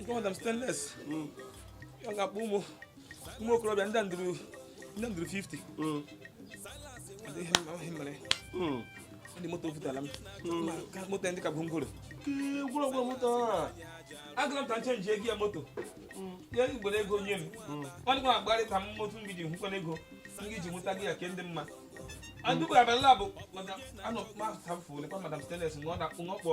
nke madam stainless mm. ọ ga-akpọ ụmụ ụmụ okorobịa ndị ndụrụ ndị ndụrụ 50 ndị moto futala m moto ndị ka bụ ngoro gwụrụgwụ moto agụla m ka m chenji ego ya moto ya gwere ego nye m ọ dịkwa agbarị ka m moto m giji hụkwana ego m giji nweta gị ya ke ndị mma adugbo abala bụ anọ kpasafụ lekwa madam stainless na ọ na-akpụ n'ọkpọ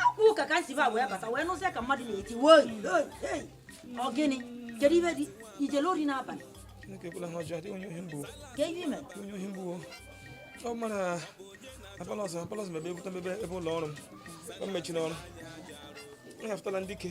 akwụ ka ka m si ba wee bata wee nụzie ka mmadụ na-eti woi ọ gịnị kedu ife dị ijele ori n'abalị ka ihe ime ọ mara apolos apolos mebe ebute mebe ebe ụlọ ọrụ m mechiri ọrụ m hafụtala ndị ike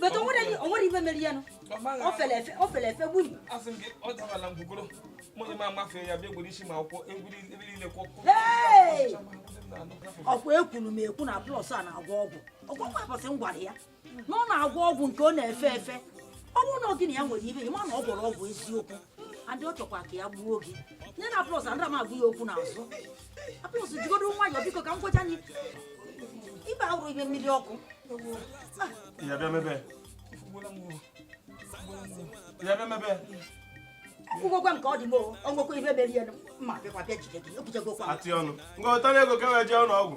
bete o nwere ife mere ya nụ o fere efe o fere efe gburu asị m gị ọ dabala ngwugoro mụ na m amafe ya bịa gwere isi ma akwụkwọ egwuri ebe niile kwọ ọkwa ekwuru m ekwu na apolos a na-agwọ ọgwụ ọgwụ nwa ụbọchị m gwara ya na ọ na-agwọ ọgwụ nke ọ na-efe efe ọ bụrụ na ọ gịnị ya nwere ife ya ma na ọ gwọrọ ọgwụ eziokwu adị ọ chọkwa ka ya gbuo gị nye na apolos adịrọ m agụ ya okwu n'azụ apolos jigodo nwayọọ biko ka m gwacha anyị ife a hụrụ ibe mmiri ọkụ ya bịa mebe ya bịa mebe ngwekwe nke ọ dị m o nwekwa ihe mere ya mma bịakwa bịa jide gị ekwuchagokwa atị ọnụ ngọtara ego ka wee jee ụlọ ọgwụ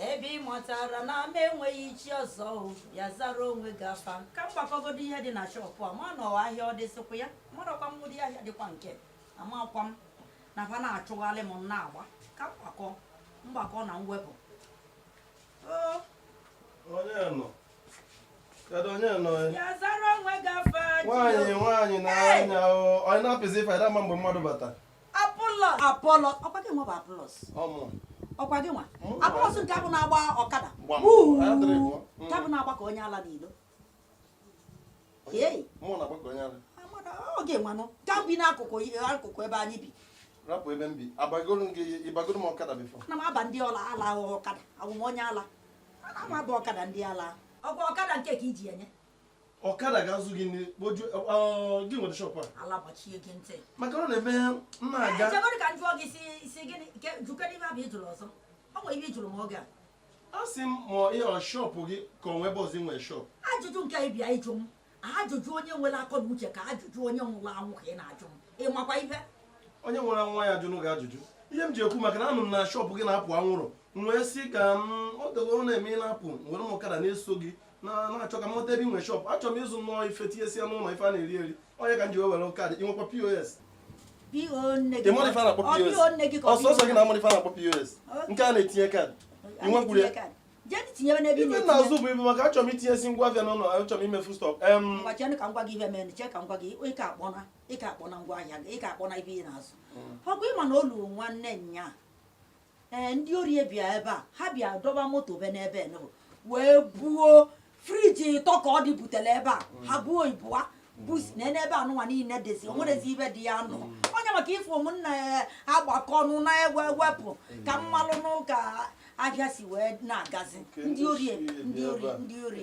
ebe ị matara na ama enweghị chi ọzọ ya zara onwe gị afa ka m gbakọgodo ihe dị na shọpụ a ma nọwa ahịa ọ dịsịkwa ya marakwa m ụdị ahịa dịkwa nke amakwa m na fa na-achụgharị m na-agba ka mgbakọ mgbakọ na mwepụ onye nọ kedu onye nọ ya zara onwe gị afa nwaanyị nwaanyị na anya onye na-apịzi ife ada ama mgbe mmadụ batara apolos apolos ọkwa gị nwa bụ apolos ọkwa gị nwa apolos nke afụ na-agba ọkada nke afụ na-agba ka onye ala n'ilo oge nwanụ ka bi n'akụkụ akụkụ ebe anyị bi rapụ ebe m bi abagoro m gị ị bagoro m ọkada before ana m aba ndị ọla ala ahụ ọkada awụ m onye ala ana m aba ọkada ndị ala ọkwa ọkada nke ka i ji enye ọkada ga-azụ gị nri kpoju gị nwere shọpụ a ala gbachie gị ntị maka ọ na-eme mma aga chegodo ka m jụọ gị si si gịnị nke jụkene ihe afụ ị jụrụ ọzọ ọ nwere ihe ị jụrụ m oge a a sị m ma ihe ọ shọpụ gị ka o nwe ebe ọzọ ị nwere shọpụ ajụjụ nke a ị bịa ịjụ m ajụjụ onye nwere akọ na uche ka ajụjụ onye nwụrụ anwụ ka ị na-ajụ m ị makwa ihe onye nwere nwa ya ajụnụ gị ajụjụ ihe m ji ekwu maka na anụ m na shọpụ gị na-apụ anwụrụ m wee sị ka m ọ dịgo ọ na-eme ị na-apụ m were m ọkada na-eso gị na-achọ ka m mụta ebe i nwe shọpụ achọrọ m ịzụ nnọọ ife tinyesia n'ụlọ ife a na-eri eri onye ka m ji wee were kaadị i nwekwa pos ọ sọsọ gị na amụrụ ife a na-akpọ pos nke a na-etinye kaadị i nwekwuru ya ife na-azụ bu ibu maka achọrọ m itinyesi ngwa afịa n'ụlọ achọrọ m imefu stọk ịka akpọ na ngwa ahịa ịka akpọ na ibe ị na-azụ mm. ọ bụ ị ma na olu nwanne nya ee ndị ori bịa ebe a ha bịa dọba moto be n'ebe nụ wee buo friji ịtọ ka ọ dị butere ebe a ha buo ibụa busi na n'ebe anụnwa niile dịzi o nwerezi ife dị ya nọ onye maka ị fụ m na m na-agbakọ ọnụ na-ewe wepụ ka m malụnụ ka ahịa si wee na-agazi ndị ori ndị ori ndị ori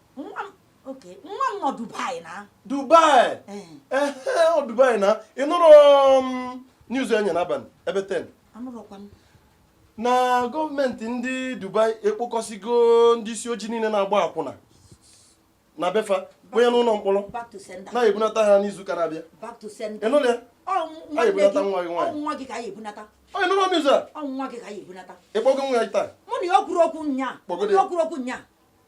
oke nwa m nọ Dubai na Dubai eh. Eh, eh, ọ Dubai na ị nụrụ um, news ụnyaa n'abalị ebe 10 na gọọmenti ndị Dubai ekpokọsigo ndị isi ojii niile na-agba akwụna na befa kwenye n'ụlọ mkpọrọ na-ebunata ha n'izu ụka na-abịa ị nụrụ ya na-ebunata nwa gị nwaanyị onye nụrụ ọnụ izu a ị kpọgo nwa ya taa mụ na ya kwuru okwu nya okwu okwu nya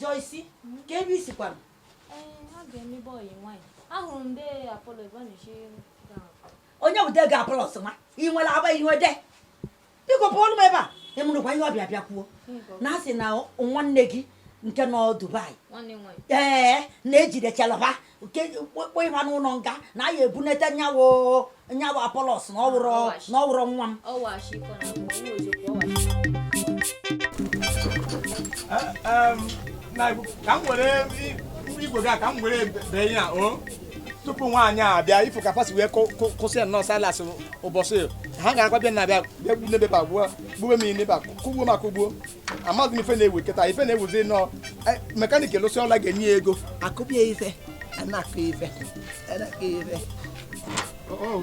Joyce, kee ebe i si kwanụ? Onye bụ di gị Apollos nwa? Ị nwere agba i nwe di? Biko pụọlụ m ebe a, ị nụrụkwa ihe ọ bịa bịa kwuo. Na asị na nwanne gị nke nọ Dubai ee na ejidechala ha kpọkpọ ịba n'ụlọ nga na a ya-ebunete nyawo nyawo apolos na ọ wụrọ na ọ wụrọ nwa m ka m were igwe gị a ka m were bee ya o tupu nwaanyị a abịa ị fụ ka fa si wee kwụsị ya nnọọ silas ụbọchị ha ga-akwa bịa na-abịa bịa gbu n'ebe a gbuo gbuo m n'ebe a kụgbuo m akụgbuo amaghị m ife na-ewu kịta ife na-ewuzi nụ e, mekanik lụsịa ọlụ a ga-enye ya ego a kụbie ife a na-akụ ife a na-akụ ife oh, oh.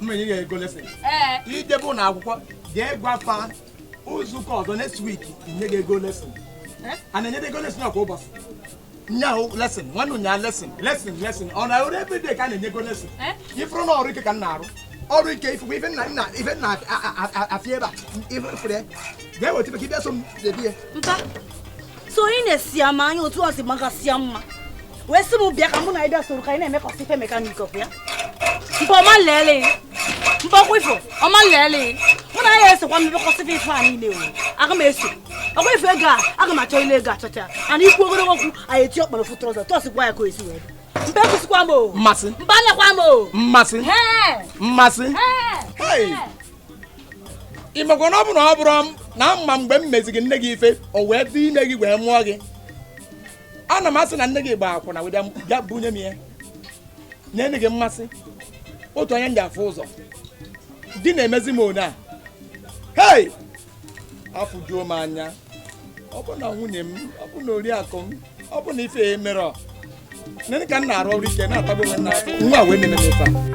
m menye ya ego lesịn i jebe ụlọ akwụkwọ jee gwa fa izu ụka ọzọ next week nye gị ego lesịn a na-enye gị ego lesịn kwa ụbọchị nyaahụ lesịn nwanne ụnyaa lesịn lesịn lesịn o nwere ebe dị ka a na-enye ego lesịn ị fụrụ na ọrụ ike ka m na-arụ ọrụ ike ị fụkwa ife nna nna ife nna afịa ebe a ife mfere ga-eweta ife ka ị bịa so m debie so ị na-esi ama anya otu ọ si magasịa mma wee sị m bịa ka mụ na anyị bịa soro ka anyị na-emekọsị ife mekanik ọkụ ya mpa ọma leele mpa ọkwa ị fụ ọma leele mụ na ya esokwa mmekọsị ife a niile o aga m eso ọkwa ị fụ ego a aga m achọ ile ego achọcha ana ikwu ogologo okwu anyị eti ọkpọrọ fụ trọza tọs gwa ya ka o esi wee mpa ekwusịkwa m o mmasị mpa anyakwa m o mmasị mmasị ị makwa na ọ bụrụ na ọ bụrọ na m ma mgbe m meziri nne gị ife o wee dị ime gị wee mụọ gị ana m asị na nne gị gbaa akwụna wee bịa bunye m ya nye nne gị mmasị otu anya m ji afụ ụzọ di na-emezi m one a hei afụjuo m anya ọ bụ na nwunye m ọ bụ na oriakụ m ọ bụ na ife e mere nne ka m na-arụ ọrụ ike na-atagbu onwe m n'afụfụ nwa wee na-eme m ife a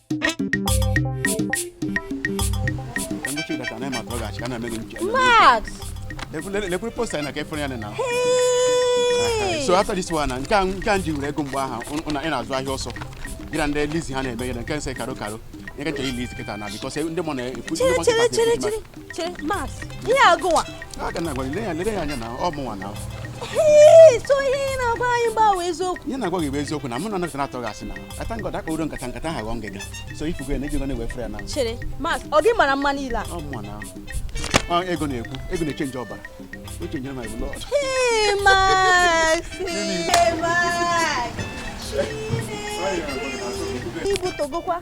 Max! Lekwuru posta anyị na ka efere ya na ahụ. So after this one, nke a nke a m ji were ego mgbe aha ị na-azụ ahịa ọsọ. Gị na ndị Eliza ha na-eme gị na nke nsị karo karo. Nye ka nche Eliza kịta na because ndị mọ na-ekwu ndị mọ nkịta. chere Max ihe agụwa a ga na-agwa gị, lee ya lere ya anya na ọ mụnwa na Ee, so ihe ị na-agwa anyị gbawa eziokwu ihe na-agwa gị bụ eziokwu na mụ na nọsị na-atụ gị asị na ata ngọdọ akpa uro nkata nkata ha ghọọ ngịga so ifugo ya na ego na-ewefere ya na chere Max ọ gị mara mma niile a ọ mụnwa na ọ ego na-ekwu ego na-echenji ọbara o chenjere my blood Ee, Max Ee, Max Chineke, ibutogokwa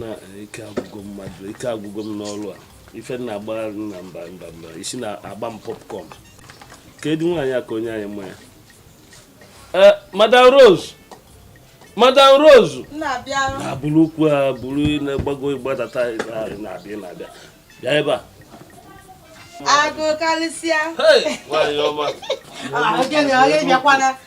na ike agwụgo mmadụ ike agwụgo m n'ọlụ a ife na-agba na mba mba mba isi na-agba m popcorn kedụ nwaanyị a ka o nye anyị mmanya eh, madam rose madam rose na-eburu ukwu a buru na-agbago agbadata na-abịa na-abịa bịa ebe a agụ karịsịa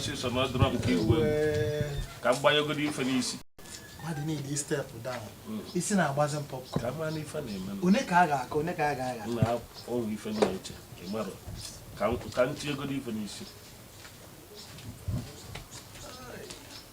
ọsịsọ na ọdụrọ nke igwe ka m gbanyegodu ife n'isi mmadụ niile step down hmm. isi na-agbazi m popcorn mana ife na-eme one ka a ga-aka one ka a ga-agha na ọrụ ife na-eche ịmara ka m tinyegodu ife n'isi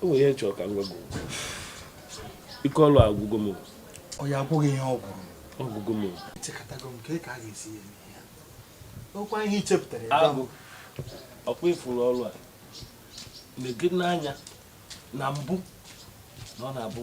o nwere ihe m chọrọ ka m gwa gị ike ọlụ agwụgo m ọ ya agwụghị ihe ọ gwụrụ ọ gwụgo m echekatago m ka a ga-esi ya eme ya ọkwa ihe i chepụtara ya agụ ọkwa ị fụrụ ọlụ a na-ege n'anya na mbụ na ọ na-abụ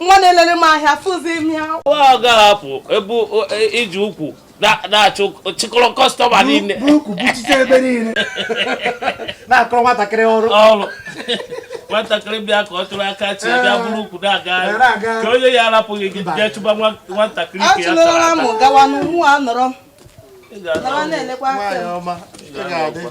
nwa na-elere m ahịa fụzi m ya ọ ga-ahapụ ebe e, iji ukwu na-achụ chịkọrọ kọstọma niile na-akọrọ nwatakịrị ọrụ ọrụ nwatakịrị bịa ka ọ tụrụ aka chi bịa buru ukwu na-aga ka onye ya arapụghị gị jee chụba nwatakịrị ka ya tara aka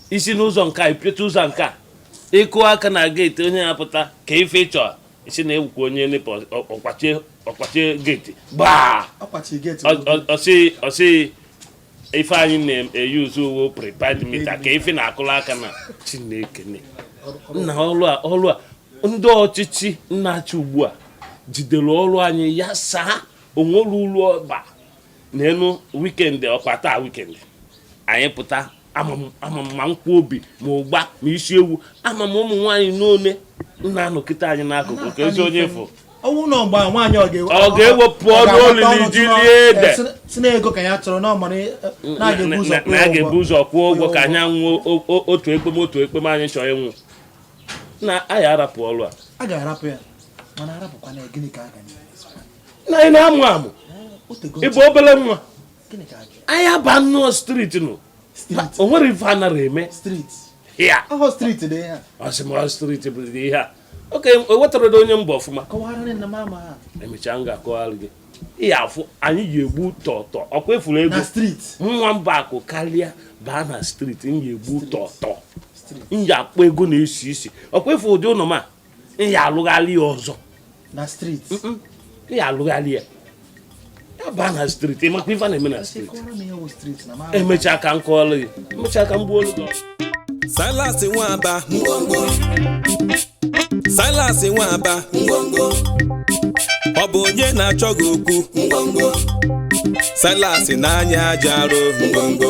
i si n'ụzọ nke a i piote ụzọ nke a ị kụ aka na geeti onye ya pụta kee ife ị chọ ị sị na ị wụkwa onye nepa ọ kpachie geeti gbaa ọ sị ife anyị na-eyuzu wụ prepaid mita ka ife na-akụla aka na chineke nna ọlụ a ọlụ a ndị ọchịchị na-achị ugbu a jidere ọrụ anyị ya saa o nwere uru ọ ba n'elu wikendi ọkwa taa wikendi anyị pụta ama m ma nkwọbi ma ụgba ma isi ewu ama m ụmụ nwaanyị n'one na-anọkete anyị n'akụkụ keezi onye fụ ọnwụ na ọgba nwaanyị ọ ga-ewepụ ọnụ olili ji lie ede sị na ego ka ya chọrọ na ọmara e, mm, na a ga-ebu ụzọ kwụọ ụgwọ ka anyị anwụ otu ekpem otu ekpem anyị chọọ ịnwụ na anyị arapụ ọrụ a a ga-arapụ ya mana arapụkwa na gịnị ka a ga na anyị na-amụ amụ ị bụ obere nwa anyị aba nnọọ street nụ o nwere ife a nara eme ọ sị m na street bụ ihe a oke ewetara onye mba ọfụma emechaa m ga-akọwara gị ihe afụ anyị ji egbu tọtọ ọkwa ị fụrụ ego nwa mba akụ karịa baa na street m ji egbu tọtọ m ji akpọ ego na-esi isi ọkwa ị fụ ụdị ụlọ ọma nya alụgharịa ọzọ nya alụgharịa ya baa na streeti ị makwa ife na-eme na streeti emechaa ka m kọọrọ gị emechaa ka m gbuo olu Silas Nwaba ngwongwo Silas Nwaba ngwongwo ọ bụ onye na-achọ gị okwu ngwongwo Silas n'anya aja arụ ngwongwo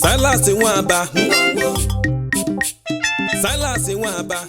Silas Nwaba Silas Nwaba